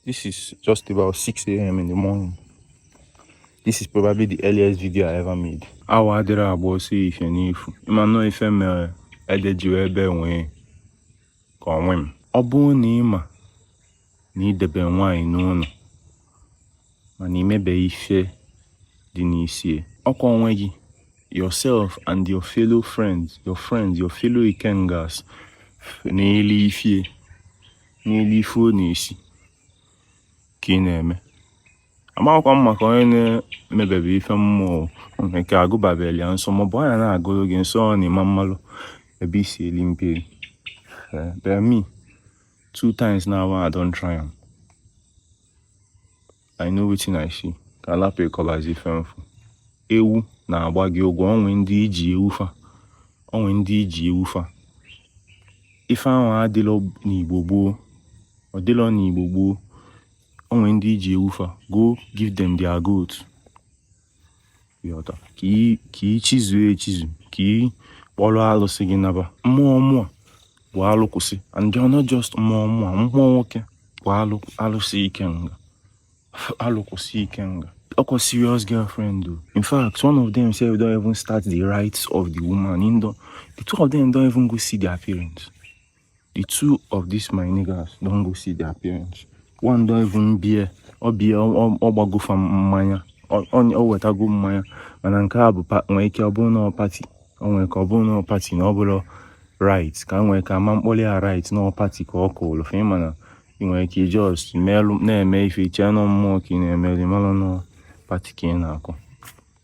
This is just about 6 a.m. in the morning. This is probably the earliest video I ever made. Awọ adịrọ agba ọsọ efifie n'efu. Ị ma na ọ ife mere ede ji wee bee nwii ka onwe m. Ọ bụrụ na ị ma na i debe nwaanyị n'ụnọ mana i mebe ife dị n'isi ya ọkwa onwe gị yourself and your fellow friends your friends your fellow ikengas na-eli ife ya na-eli ife ọ na-esi ka ị na-eme amakwa m maka onye na-emebebe ife mmụọ nke agụbabeli ya nsọ maọbụ anya na-agụrụ gị nsọ ọ na-eme mmalụ ebe i si eli mperi but me two times now I don try am I know wetin I see ka a lapụ ịkọbazi ife m fụ ewu na-agba gị ụgwọ o nwee ndị i ji ewu fa o nwee ndị i ji ewu fa ife ahụ adịlọ n'Igbo gboo ọ dịlọ n'Igbo gboo o nwee ndị i ji ewu fa go give them their goat ị ghọta ka ị chizue echizu ka ị kpọlụ alụsị gị naba mmụọ mmụọ bụ alụ kwụsị and ọ not just mmụọ mmụọ mmụọ nwoke bụ alụ alụsị ikenga alụ kwụsị ikenga ọkwa serious girlfriend o in fact one of them sef don even start the rites of the woman in don the two of them don even go see their parents the two of these my niggas don go see their parents one don even bịa ọ bịa ọ gbago fa mmanya ọ wetago mmanya mana nke a bụ nwee ike ọ bụrụ na party ọ nwere ka ọ bụrụ na party na ọ bụrọ rite ka nwee ka ama m kpọli ya rite na party ka ọ kụrụ fe mana ị nwere ike just na-eme ife i che na mmụọ ka ị na-emeli malọ na party ka ị na-akụ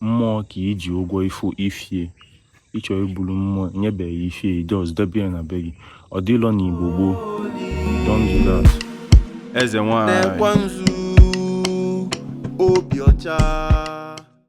mmụọ ka i ji ụgwọ ife ife ya ị chọ ibulu mmụọ nyebeghị ife ya just debe ya na be gị ọ dịlọ na Igbo gboo don't do that eze nwanyị na-ekwa nzu obi ọcha